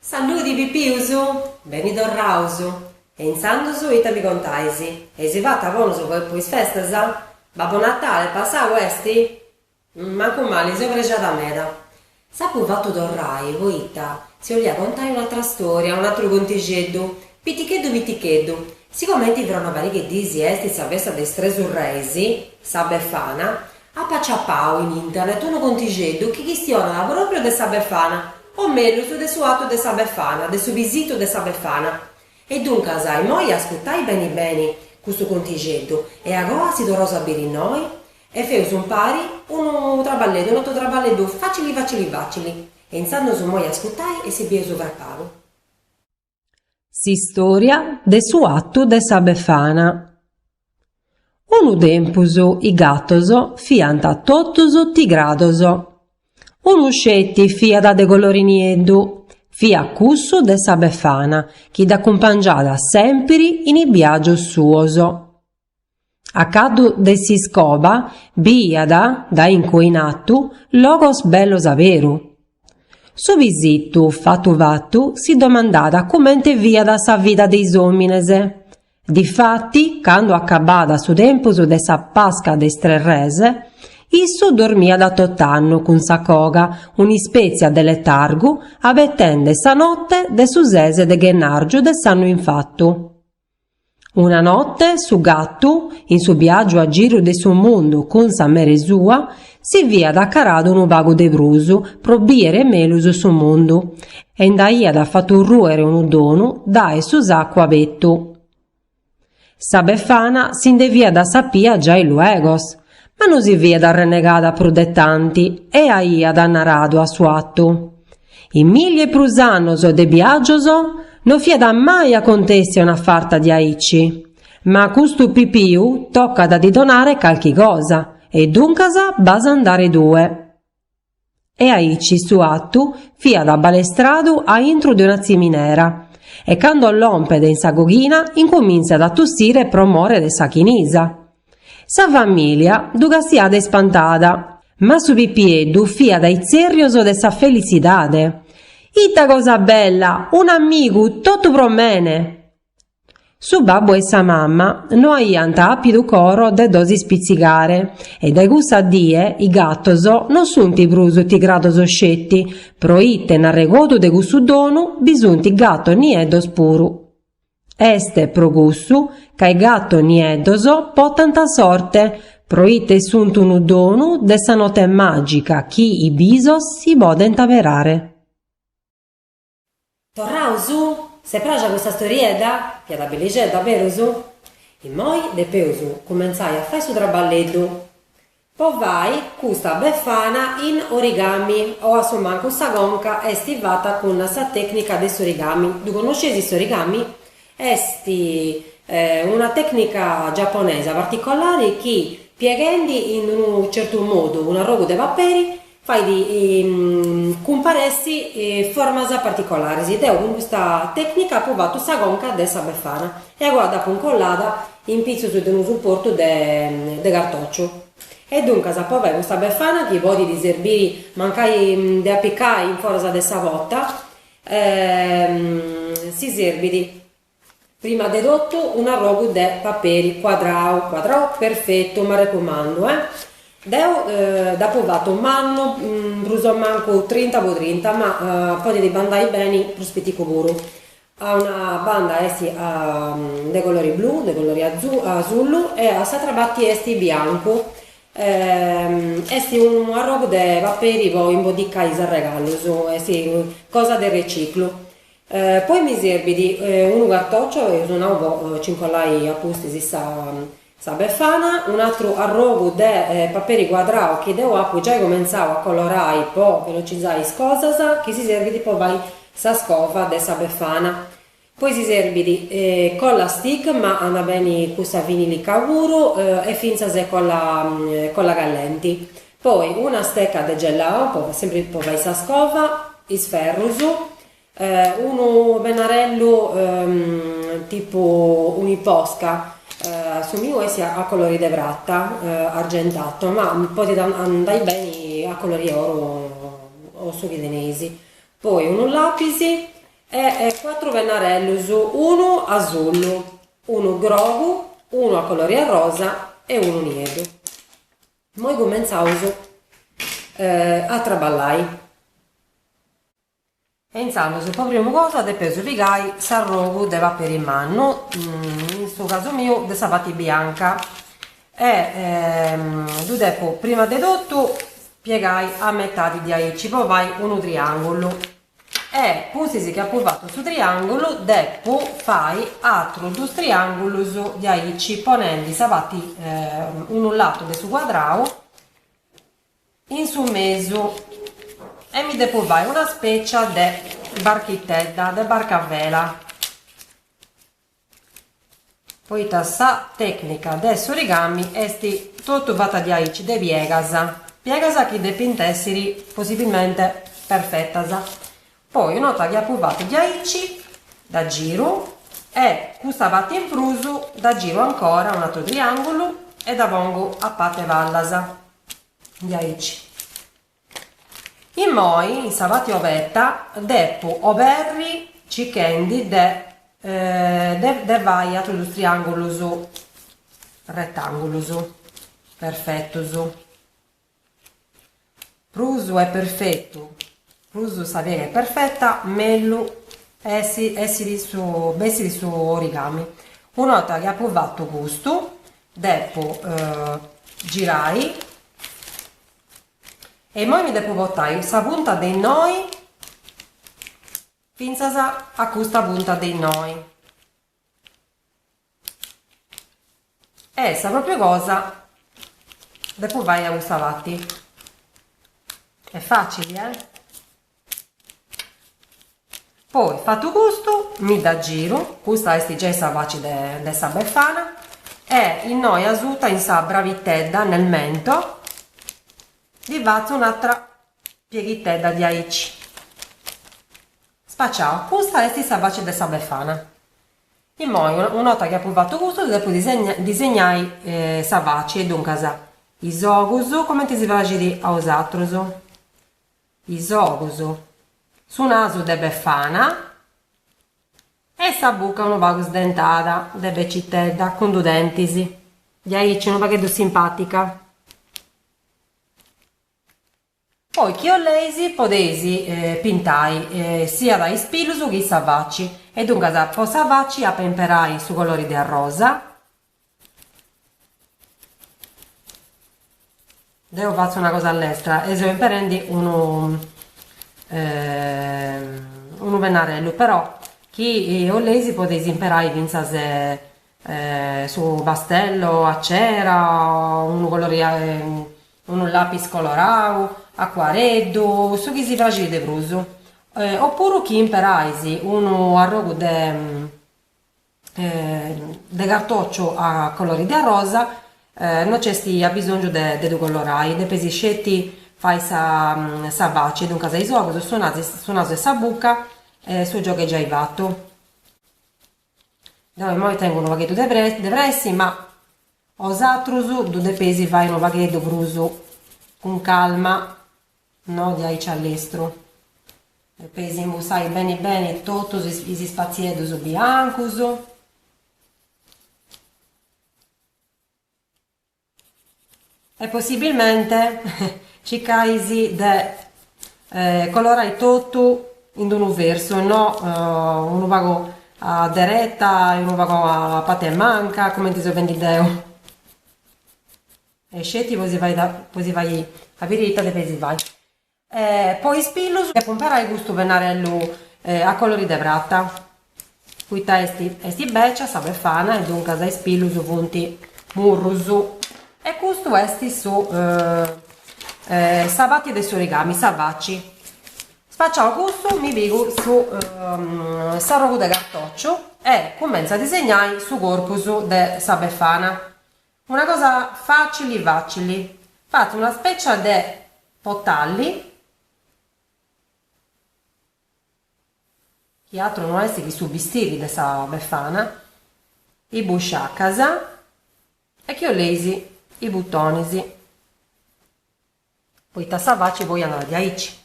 Saludi Pipius! Beni torraus! E intzandus ita mi contais? Eis fatu a bonus po po is festas? Babbu Natale passau esti? Mancu mali, seu prexada meda. S'apu fatu torrai poita si 'olia contai un'atra storia, un'atru contixeddu, piticheddu piticheddu, sigomenti fra una pariga 'e disi est sa festa de is Tresu Reis, sa Befana, apu aciapau in internet unu contixeddu chi chistionat propriu de sa Befana, o mellus de su atu de sa Befana, de su pisitu de sa Befana. E duncas, immoi ascutai beni beni custu contixeddu e agoa si torraus a biri innoi? E feus umpari unu traballeddu, un'atru traballeddu facili facili facili. E intzandus immoi ascutai e si bieus apagu. S'istòria de su atu de sa Befana. Unu tempus is gatos fiant totus tigrados. Unu sceti fiat de colori nieddu, fiat cussu de sa Befana chi dd'acumpangiat sèmpiri in is biagius suos. A caddu de s'iscoba biiat dae incue in artu logos bellos a beru. Su pisittu fattu fattu si domandàt cumente fiat sa vida de is omines. Difatti candu acabàt su tempus de sa Pasca de is tres res, issu dormiat tot'annu cun sa coga un'ispètzia de letargu abetende sa notte de su ses de Gennàrgiu de s'annu infattu. Una notte su gattu, in su biagiu a giru de su mundu cun sa mere sua, si fiat acaradu unu pagu de prus pro biere melus su mundu e nd'aiat fattu ruere unu donu dae su saccu abertu. Sa Befana si nde fiat sapia giai luegos, Ma no si fiat arrenegada prus de tanti e aiat naradu a su atu, In milli e prus annos de biàgios no fiat mai acontèssia una farta diaici, ma a custu pipiu tocat a ddi donare calchi cosa, e duncas b'as a andare tue. E aici su attu fiat abalestradu a intru de una tziminera e cando lompet in sa coghina incomintzat a tussire pro more de sa chinisa. Sa familia ddu castiat ispantada, ma su pipieddu fiat a itzerrios de sa felitzidade. Ita cosa bella, un'amigu, totu pro mene! Su babbu e sa mamma no aiant àpidu coro de ddos ispitzigare e dae cussa die is gatos no sunt prus tigrados sceti, pro ite in arregodu de cussu donu bi sunt gatos nieddos puru. Est pro cussu ca is gatos nieddos potant sorte pro ite sunt unu donu de sa note màgica chi is bisos si podent aberare. Torraus? S'est praxia custa storiedda? Fiat bellixedda, berus? Immoi depeus cumentzai a fai su traballeddu po fai custa befana in origami o a su mancu sa conca est fata cun sa tecnica de s'origami. Ddu connosceis s'origami? Est una tecnica giapponesa particolari chi pieghendi in unu certu modu un'arrogu de paperi fait cumparessi formas particolaris. Deu cun custa tècnica apu fatu sa conca de sa befana e acoa dd'apu incollada in pitzus de unu suportu de cartòciu. E duncas apo a fai custa befana chi podit serbiri mancai de apicai in foras de sa pota, si serbit Prima de totu un'arrogu de paperi cuadrau cuadrau perfetu m'arrecumandu eh deu dd'apo fatu mannu prus o mancu trinta po trinta ma podit bandai beni prus piticu puru a una banda est de colori blu de colori asullu e a s'atra parti est biancu est unu arrogu de paperi po imbodicai is arregallus est cosa de reciclu Poi mi serbit unu cartòcio, eus nau po ci incollai a pustis sa befana, un'atru arrogu de paperi cuadrau chi deu apu giai comentzau a colorai po velocizai is cosas, chi si serbit po fai sa scova de sa befana. Poi si serbit colla stick, ma andat beni cussa vinilica puru, e fintzas colla callenti. Poi una steca de gelato po sempri po fai sa scova, is ferrus, unu pennarellu tipu uniposca, su miu est a colori de prata argentato, ma podit andai beni a colori 'e oru o su chi teneis, poi unu lapis e cuatru pennarellus, unu asullu, unu grogu, unu a colori 'e rosa e unu nieddu. Moi cumentzaus a traballai. E intzandus po primu cosa depeus pigai s'arrogu de paperi mannu, in su casu miu de sa parti bianca, e ddu depu prima de totu piegai a metadi diaici po fai unu triangulu, E pustis chi apu fatu su triàngulu depu fai atrus dus triàngulus diaici ponendi sa parti unu latu de su cuadrau in su mesu e mi depu fai una specia de barchitedda, de barca a vela Poita sa tècnica de s'origami est totu fata diaici de piegas, piegas chi depint èssiri possibilmente perfetas. Poi una 'orta chi apu fatu diaici dda giru e custa parti in prus dda giru ancora un atru triàngulu e dda pongu a parti 'e palas diaici. Immoi in sa pati obeta depu oberri cichendi de de fai atrus dus triangulus rettangulus perfettus prus est perfettu prus sa piega est perfetta mellus essit su bessit su origami una orta chi apu fattu custu depu girai E immoi mi depu portai custa punta de innoi fintzas a custa punta de innoi. E sa propriu cosa depu fai a custa parti. Est facili eh! Poi fatu custu mi dda giru, custa est giai sa faci de sa befana e innoi asuta in sa bravitedda nel mento ddi fatzu un'atra pieghitedda diaici, spaciau, custa est sa faci de sa befana. Immoi una 'orta chi apu fatu custu ddi depu disegnai sa faci e duncas is ogus cumenti si praxit a bosatrus. Is ogus, su nasu de Befana e sa buca unu pagu sdentada de becitedda cun dus dentis diaici unu pagheddu simpatica. Poi chi 'oleis podeis pintai siat is pilus chi sa faci e duncas po sa faci ap'a imperai su colori de arrosa Deo fatzu una cosa a lestra e seu imperendi unu unu pennarellu però chi 'oleis podeis imperai fintzas su pastello a cera o unu colori unu lapis colorau accuareddu su chi si praxit de prus opuru chi imperais unu arrogu de de cartòciu a colori de arrosa no nc'est abisòngiu de ddu colorai, depis sceti fai sa faci, duncas is ogus, su nasu e sa buca e su giogu est giai fatu. Deu immoi tengu unu pagheddu de de pressi ma bosatrus ddu depeis fai unu pagheddu prus cun calma No di aici a lestru. Depeis imbussai beni beni totus is spatzieddus biancus. E possibilmente circai-sì de colorai totu in d'unu versu e no unu pagu a dereta e unu pagu a parti 'e manca, cumenti seu fendi deu. E sceti po si fai po si fai a biri ita depeis fai po is pillus depu imperai custu pennarellu a colori de prata poita est est becia sa befana e duncas is pilus funt murrus e custu est su sa parti de s'origami sa faci spaciau custu mi pigu su s'arrogu de cartociu e cumentzu a disegnai su corpus de sa befana Una cosa facili facili. Fatzu una specia de potalli, chi atru no est chi su bistiri de sa befana, is busciacas e chi 'oleis is butonis, poita sa faci poi andat diaici,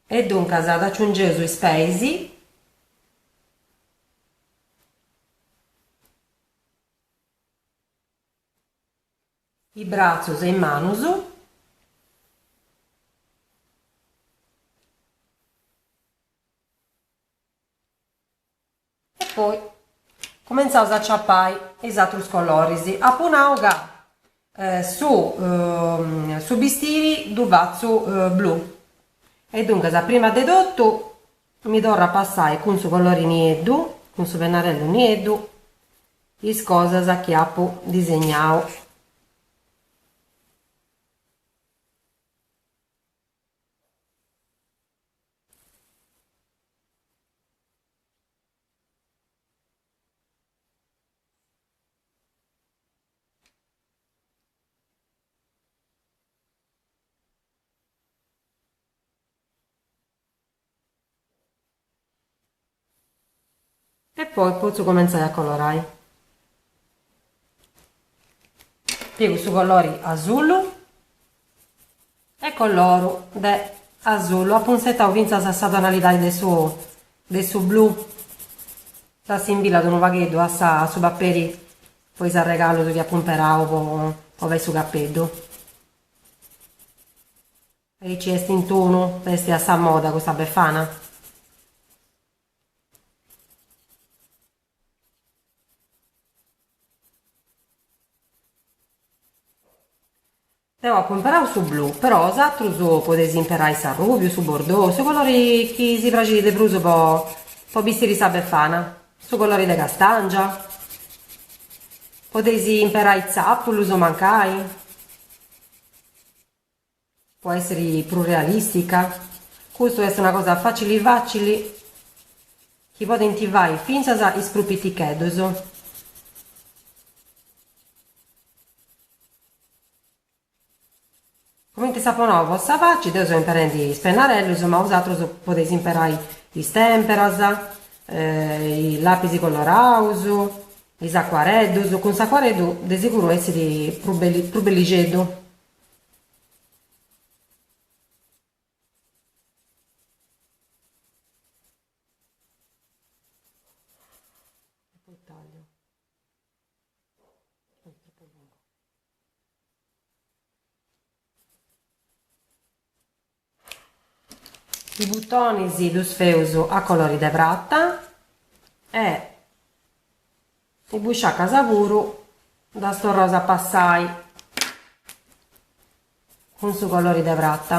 e duncas dd'aciungeus is peis, is bratzus e is manus. E poi cumentzaus a ciapai is atrus coloris. Apu nau ca Su su bistiri ddu fatzu blu e duncas prima de totu mi torru a passai cun su colori nieddu, cun su pennarellu nieddu is cosas chi apu disegnau. E poi potzu comentzai a colorai. Pigu su colori asullu. E colloru de asullu, apu insetau fintzas a sa tonalidadi de su de su blu, ddu assimbillat unu pagheddu a sa a su paperi po is arregallus chi apu imperau po po fai su capeddu. Aici est in tunu, est a sa moda custa befana. Deu apu imperau su blu, però os atrus podeis imperai s'arrùbiu, su bordou, su colori chi si praxit de prus po po bistiri sa befana, su colori de castàngia, podeis imperai tzàpulus o mancai, po èssiri prus realìstica, custa est una cosa fàcili fàcili chi podint fai fintzas is prus piticheddus. Cumenti s'apo nau cun sa faci, deu seu imperendi is pennarellus, ma bosatrus podeis imperai is tèmperas, is làpis coloraus, is acuareddus, cun s'acuareddu de siguru essit prus bellixeddu. is butonis ddus feus a colori de prata e is busciacas puru ddas torraus a passai cun su colori de prata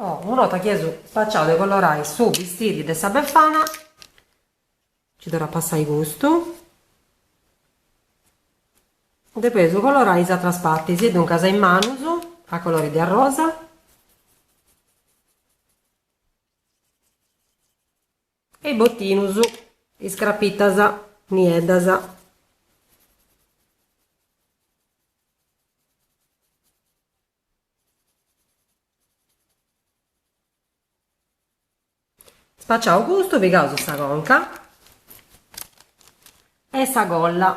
Oh, una 'orta chi eus spaciau de colorai su bistiri de sa Befana, nci torru a passai custu, depeus colorai is atras partis, e duncas is manus a colori de arrosa, e is botinus, is crapitas nieddas, Spaciau custu pigaus sa conca e sa colla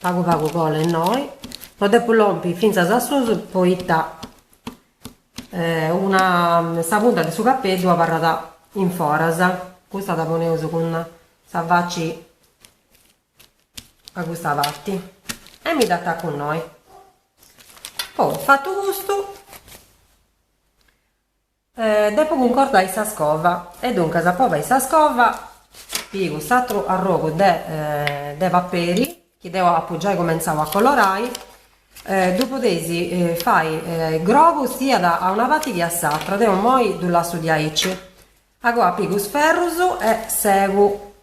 pagu pagu colla innoi no depu lompi finzas a susu poita una sa punta de su capeddu abarrat in foras custa dda poneus cun sa faci a custa parti e mi dd'atacu innoi poi fatu custu depo cuncordai sa scova e duncas po fai sa scova pigu s'atru arrogu de paperi chi deu apu giai cumentzau a colorai ddu podeis fai grogu siat a una parti chi a s'atra deu imoi ddu lassu diaici agoa pigu is ferrus e segu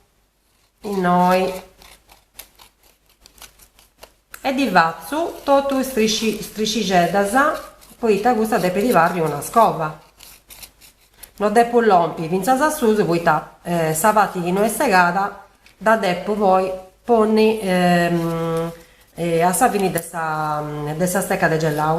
innoi e ddi fatzu totu is striscixeddas poita custa depit bessiri una scova no depu lompi fintzas a susu poita sa parti chi no est segada dda depu poi ponni a sa fini de sa steca de gelau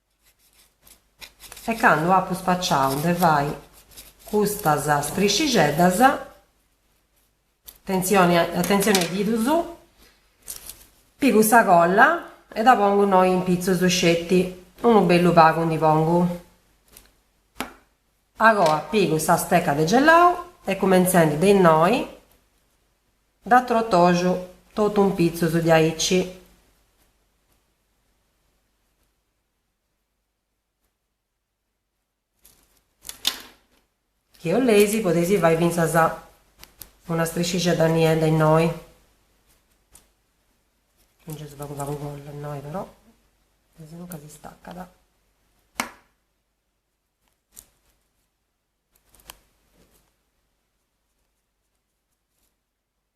e candu apu spaciau de fai custas striscixeddas, atentzioni a is didus, pigu sa colla e dda pongu innoi in pitzus sceti, unu bellu pagu ndi pongu, agoa pigu sa steca de gelau e cumentzendi de innoi dda trotoxu totu in pitzus diaici. Chi 'oleis podeis fai fintzas una striscixedda niedda innoi, chi nci est pagu pagu colla innoi però, asinunca si stacat,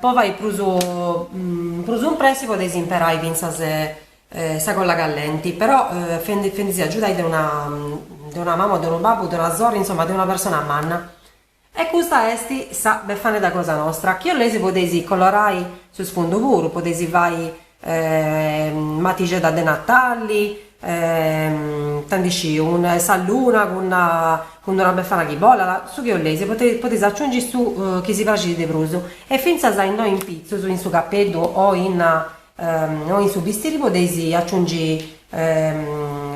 po fai prus prus impressi podeis imperai fintzas sa colla callenti però fendi·sì agiudai de una de una mama o de unu babbu o de una sorri insomma de una persona manna e custa esti sa befanedda cosa nostra chi 'oleis podeis colorai su sfundu puru podeis fai matixedha de Natali ita ndi sciu sa luna cun d'una befana chi bolat, su chi 'olleis podeis aciungi su chi si praxit de prus e fintzas a innoi in pitzus, in su capeddhu o in o in su bistiri podeis aciungi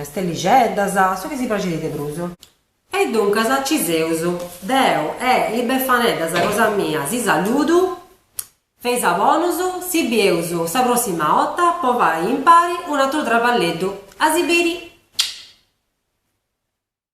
stellixeddhas, su chi si praxit de prus. E duncas ci seus, deu e is befaneddhas cosa mia si saludu Feis a bonus, si bieus sa prossima 'otta po fai impari un'atru traballeddu. A si biri!